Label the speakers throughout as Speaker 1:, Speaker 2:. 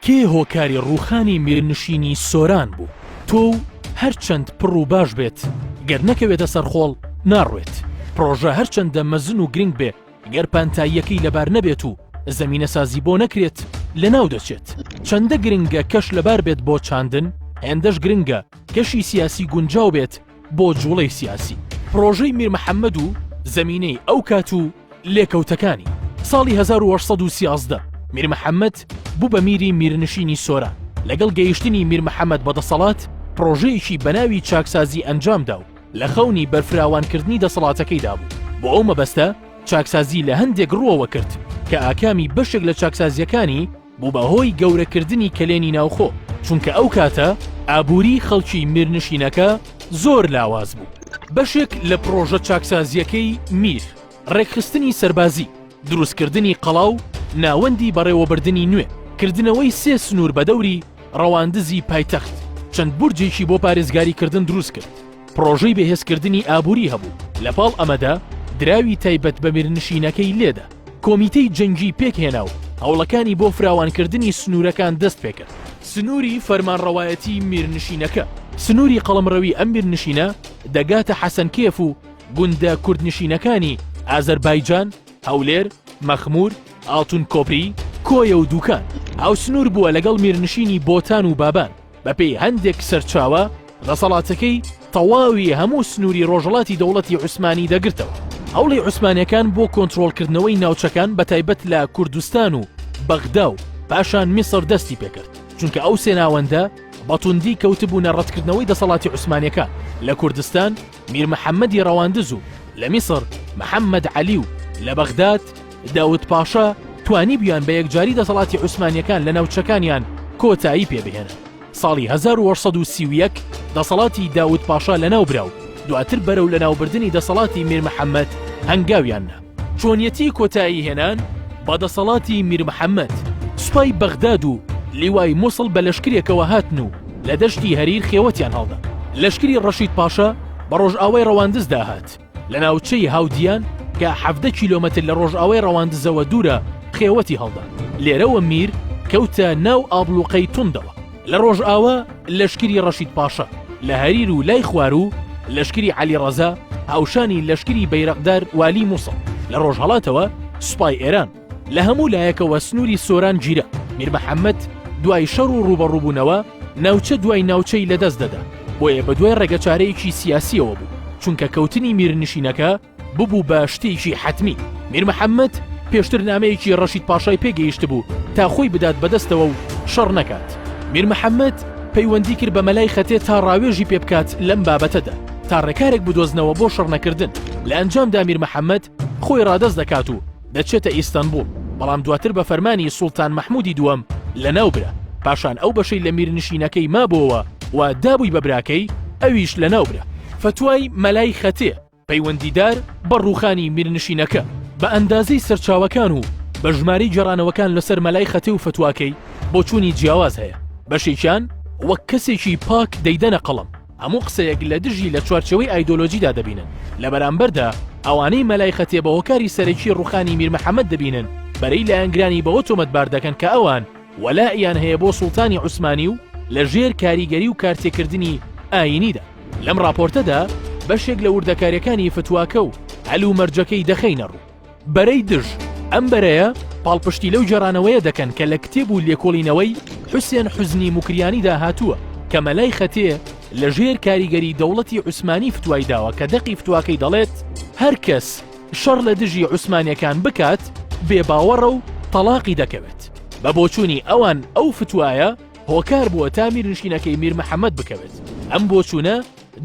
Speaker 1: کێ هۆکاری ڕووخانی میرنشینی سۆران بوو؟ تۆ و هەرچەند پڕ و باش بێت، گەر نەکەوێتە سەر خۆڵ ناڕوێت. پڕۆژە هەرچەندە مەزن و گرنگ بێ، گەر پانتاییەکەی لەبار نەبێت و زەمینەسازی بۆ نەکرێت، لەناو دەچێت. چەندە گرنگە کەش لەبار بێت بۆ چاندن، هێندەش گرنگە کەشی سیاسی گونجاو بێت بۆ جوڵەی سیاسی پرۆژەی میر محەممەد و زەمینەی ئەو کات و لێکەوتەکانی ساڵی 1913 میر محەممەد بوو بە میری میرنشینی سۆران لەگەڵ گەیشتنی میر محەممەد بەدەسەڵات پرۆژەیەکی بەناوی چاکسازی ئەنجامدا و لە خەونی بەرفراوانکردنی دەسەڵاتەکەیدا بوو بۆ ئەو مەبەستە چاکسازی لە هەندێک ڕووەوە کرد کە ئاکامی بەشێک لە چاکسازیەکانی بوو بە هۆی گەورەکردنی کەلێنی ناوخۆ، چونکە ئەو کاتە ئابووریی خەڵکی میرنشینەکە زۆر لاواز بوو. بەشێک لە پڕۆژە چاکسازییەکەی میر، ڕێکخستنی سەربازی، دروستکردنی قەڵا و ناوەندی بەڕێوەبردنی نوێ، کردنەوەی سێ سنوور بە دەوری ڕەواندزی پایتەخت، چەند بورجێکی بۆ پارێزگاریکردن دروست کرد، پڕۆژەی بەهێزکردنی ئابووری هەبوو، لەپاڵ ئەمەدا دراوی تایبەت بە میرنشینەکەی لێدا. کۆمیتەی جەنگی پێکهێنا و هەوڵەکانی بۆ فراوانکردنی سنوورەکان دەست پێکرد. سنووری فەرمانڕەوایەتی میرنشینەکە، سنووری قەڵمڕەوی ئەم میرنشینە دەگاتە حەسەنکێف و گوندە کوردنشینەکانی ئازەربایجان، هەولێر، مەخموور، ئاڵتون کۆپری، کۆیە و دووکان، هاوسنوور بووە لەگەڵ میرنشینی بۆتان و بابان. بەپێی هەندێک سەرچاوە دەسەڵاتەکەی تەواوی هەموو سنووری ڕۆژەڵاتی دەوڵەتی عوسمانی دەگرتەوە هەوڵی عوسمانەکان بۆ کۆنتترۆلکردنەوەی ناوچەکان بە تایبەت لە کوردستان و بەغدا و پاشان میسر دەستی پێکرد چونکە ئەو سێناوەندە بەتوندی کەوتبوونە ڕەتکردنەوەی دەسەڵاتی عوسمانەکان لە کوردستان میر محەمەدی ڕەواندز و لە میسڕ محەمەد عەلی و لە بەغداد داود پاشا توانیبویان بە یەکجاری دەسەڵاتی عوسمانیەکان لە ناوچەکانیان کۆتایی پێ بهێنن ساڵی 1831 دەسەڵاتی داود پاشا لەناو برا و دواتر بەرەو لەناوبردنی دەسەڵاتی میر محەمەد هەنگاویان نا. چۆنیەتی کۆتایی هێنان بە دەسەڵاتی میر محەمەد، سوپای بەغداد و لیوای موسڵ بە لەشکرێکەوە هاتن و لە دەشتی هەریر خێوەتیان هەڵدا. لەشکری ڕەشید پاشا بە ڕۆژئاوای ڕەواندزدا هات، لە ناوچەی هاودیان کە حەڤدە کیلۆمەتر لە ڕۆژئاوای ڕەواندزەوە دوورە، خێوەتی هەڵدا. لێرەوە میر کەوتە ناو ئابڵوقەی توندەوە. لە ڕۆژئاوا لەشکری ڕەشید پاشا لە هەریر و لای خواروو لەشکری عەلی ڕەزا هاوشانی لەشکری بەیرەقدار والی مووسڵ لە ڕۆژهەڵاتەوە سوپای ئێران لە هەموو لایەکەوە سنووری سۆران گیرا میر محەممەد دوای شەڕ و ڕوبەڕووبوونەوە ناوچە دوای ناوچەی لەدەست دەدا بۆیە بە دوای ڕێگەچارەیەکی سیاسیەوە بوو چونکە کەوتنی میرنشینەکە ببوو بە شتێکی حەتمی. میر محەممەد پێشتر نامەیەکی ڕەشید پاشای پێ گەیشتبوو تا خۆی بدات بە دەستەوە و شەڕ نەکات. میر محەممەد پەیوەندی کرد بە مەلای خەتێ تا ڕاوێژی پێ بکات لەم بابەتەدا، تا ڕێکارێک بدۆزنەوە بۆ شەڕنەکردن. لە ئەنجامدا میر محەممەد خۆی ڕادەست دەکات و دەچێتە ئیستەنبووڵ، بەڵام دواتر بە فەرمانی سوڵتان مەحموودی دووەم لەناو برا. پاشان ئەو بەشەی لە میرنشینەکەی مابووەوە و دابووی بە براکەی، ئەویش لەناو برا. فتوای مەلای خەتێ پەیوەندیدار بە ڕووخانی میرنشینەکە بە ئەندازەی سەرچاوەکان و بە ژمارەی گێڕانەوەکان لەسەر مەلای خەتێ و فەتواکەی بۆچوونی جیاواز هەیە بەشێکیان وەک کەسێکی پاک دەیدەنە قەڵەم هەموو قسەیەک لە دژی لە چوارچێوەی ئایدۆلۆژیدا دەبینن لە بەرامبەردا ئەوانەی مەلای خەتێ بە هۆکاری سەرەکی ڕووخانی میر محەممەد دەبینن بەرەی لایەنگرانی بەوە تۆمەتبار دەکەن کە ئەوان وەلائیان هەیە بۆ سوڵتانی عوسمانی و لە ژێر کاریگەری و کارتێکردنی ئایینیدا. لەم ڕاپۆرتەدا بەشێک لە وردەکاریەکانی فتواکە و هەل و مەرجەکەی دەخەینە ڕوو. بەرەی دژ، ئەم بەرەیە پاڵپشتی لەو گێڕانەوەیە دەکەن کە لە کتێب و لێکۆڵینەوەی حوسێن حوزنی موکریانیدا هاتووە کە مەلای خەتێ لە ژێر کاریگەری دەوڵەتی عوسمانی فتوای داوە کە دەقی فتواکەی دەڵێت، هەر کەس، شەڕ لە دژی عوسمانیەکان بکات بێ باوەڕە و تەڵاقی دەکەوێت بە بۆچوونی ئەوان ئەو فتوایە هۆکار بووە تا میرنشینەکەی میر محەممەد بکەوێت ئەم بۆچوونە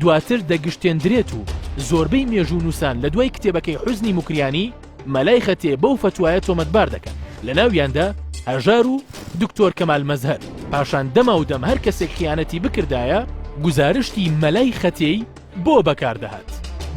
Speaker 1: دواتر دەگشتێندرێت و زۆربەی مێژوو نووسان لە دوای کتێبەکەی حوزنی مکریانی مەلای خەتێ بەو فتوایە تۆمەتبار دەکەن لە ناویاندا هەژار و دکتۆر کەمال مەزهەر پاشان دەما و دەم هەر کەسێک خیانەتی بکردایە گوزارشتی مەلای خەتێی بۆ بەکاردەهات؟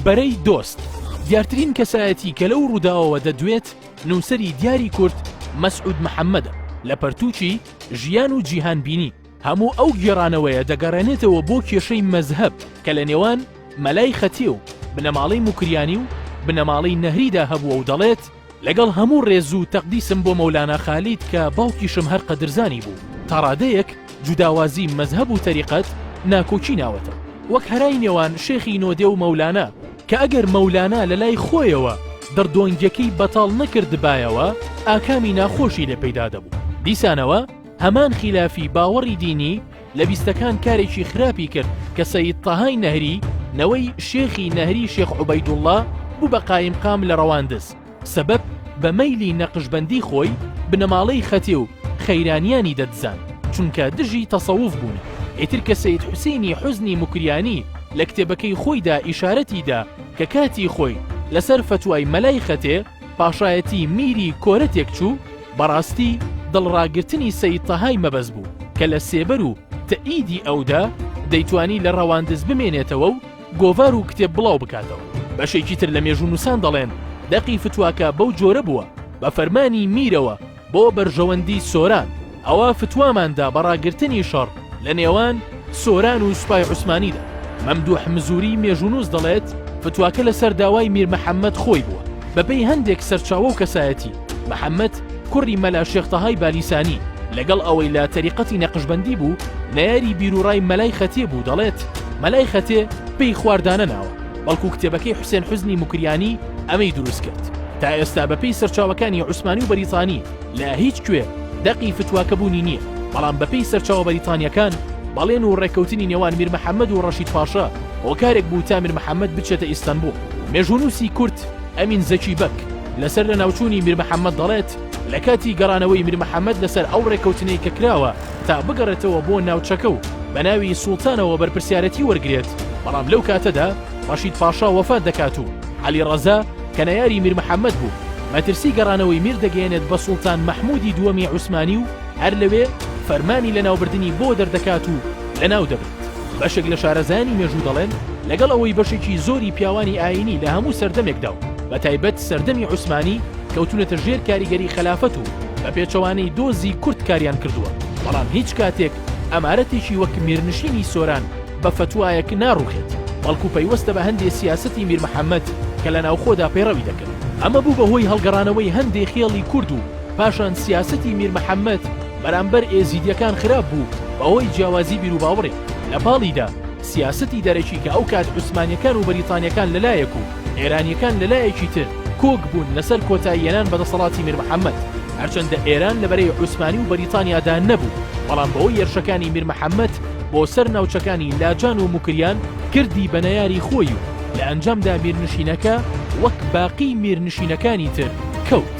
Speaker 1: بەرەی دۆست، دیارترین کەسایەتی کە لەو ڕووداوەوە دەدوێت، نووسەری دیاری کورد مەسعود محەممەدە، لە پەرتووکی، ژیان و جیهانبینی، هەموو ئەو گێڕانەوەیە دەگەڕێنێتەوە بۆ کێشەی مەزهەب کە لە نێوان، مەلای خەتێ، و، بنەماڵەی موکریانی، و، بنەماڵەی نەهریدا هەبووە و دەڵێت، لەگەڵ هەموو ڕێز و تەقدیسم بۆ مەولانا خالید کە باوکیشم هەر قەدرزانی بوو، تا ڕادەیەک جوداوازی مەزهەب و تەریقەت ناکۆکی ناوەتە وەک هەرای نێوان شێخی نۆدێ و مەولانا، کە ئەگەر مەولانا لە لای خۆیەوە دڕدۆنگیەکەی بەتاڵ نەکردبایەوە ئاکامی ناخۆشی لێ پەیدا دەبوو. دیسانەوە هەمان خیلافی باوەڕی دینی، لە بیستەکان کارێکی خراپی کرد کە سەید تەهای نەهری نەوەی شێخی نەهری شێخ عوبەیدوڵڵا بوو بە قایمقام لە ڕەواندز سەبەب بە مەیلی نەقشبەندی خۆی بنەماڵەی خەتێ و خەیرانیانی دەدزان چونکە دژی تەسەوف بوون ئیتر کە سەید حوسینی حوزنی موکریانی لە کتێبەکەی خۆیدا ئیشارەتی دا کە کاتی خۆی لەسەر فەتوای مەلای خەتێ پاشایەتی میری کۆرە تێکچوو، بەڕاستی دڵڕاگرتنی سەید تەهای مەبەست بوو کە لە سێبەر و تەئیدی ئەودا دەیتوانی لە ڕەواندز بمێنێتەوە و گۆڤار و کتێب بڵاو بکاتەوە. بەشێکی تر لە مێژوونووسان دەڵێن دەقی فتواکە بەو جۆرە بووە بە فەرمانی میرەوە، بۆ بەرژەوەندی سۆران، ئەوا فتوامان دا بە ڕاگرتنی شەڕ لە نێوان سۆران و سوپای عوسمانیدا. مەمدووح مزووری مێژوونووس دەڵێت، فتواکە لەسەر داوای میر محەممەد خۆی بووە. بەپێی هەندێک سەرچاوە و کەسایەتی، محەممەد کوڕی مەلا شێخ تەهای بالیسانی، لەگەڵ ئەوەی لە تەریقەتی نەقشبەندی بوو، نەیاری بیروڕای مەلای خەتێ بوو، دەڵێت، مەلای خەتێ پێی خواردانە ناوە. بەڵکو کتێبەکەی حوسێن حوزنی موکریانی ئەمەی دروست کرد تا ئێستا بەپی سەرچاوەکانی عوسمانی و بەریتانی لە هیچ کوێ دەقی فتوواکە بوونی نییە بەڵام بەپی سەرچاوە بەریتانیەکان بەڵێن و ڕێککەوتنی نێوان میر محەممەد و ڕەشید پاشا هۆکارێک بوو تا میر محەممەد بچێتە ئیستەنبوو مێژونووسی کورت ئەمین زەکی بەک لەسەر لە ناوچووی میر محەممەد دەڵێت لە کاتی گەڕانەوەی میر محەممەد لەسەر ئەو ڕێککەوتنەی کە کراوە تا بگەڕێتەوە بۆ ناوچەکە و بە ناوی سوڵتانەوە بەرپرسیارەتی وەرگرێت، بەڵام لەو کاتەدا ڕەشید پاشا وەفات دەکات و عەلی ڕەزا کە نەیاری میر محەمەد بوو، مەترسی گەڕانەوەی میر دەگەیەنێت بە سوڵتان مەحموودی دووەمی عوسمانی و هەر لەوێ فەرمانی لەناوبردنی بۆ دەردەکات و لەناو دەبن. بەشێک لە شارەزایانی مێژوو دەڵێن لەگەڵ ئەوەی بەشێکی زۆری پیاوانی ئایینی لە هەموو سەردەمێکدا و بەتایبەت سەردەمی عوسمانی کەوتونەتە ژێر کاریگەری خەلافەت و بە پێچەوانەی دۆزی کورد کاریان کردووە بەڵام هیچ کاتێک ئەمارەتێکی وەک میرنشینی سۆران بە فەتوایەک ناڕوخێت بەڵکو پەیوەستە بە هەندێ سیاسەتی میر محەممەد کە لە ناوخۆدا پەیڕەوی دەکرد ئەمە بوو بە هۆی هەڵگەڕانەوەی هەندێ خێڵی کورد و پاشان سیاسەتی میر محەممەد بەرامبەر ئێزیدیەکان خراپ بوو بەهۆی جیاوازی بیروباوڕێ، لە پاڵیدا سیاسەتی دەرەکی کە ئەو کات عوسمانیەکان و بەریتانیەکان لە لایەک و ئێرانیەکان لە لایەکی تر کۆک بوون لەسەر کۆتایی هێنان بە دەسەڵاتی میر محەمەد، هەرچەندە ئێران لە بەرەی عوسمانی و بەریتانیادا نەبوو، بەڵام بەهۆی هێرشەکانی میر محەمەد بۆ سەر ناوچەکانی لاجان و موکریان کردی بە نەیاری خۆی و لە ئەنجامدا میرنشینەکە وەک باقی میرنشینەکانی تر کەوت.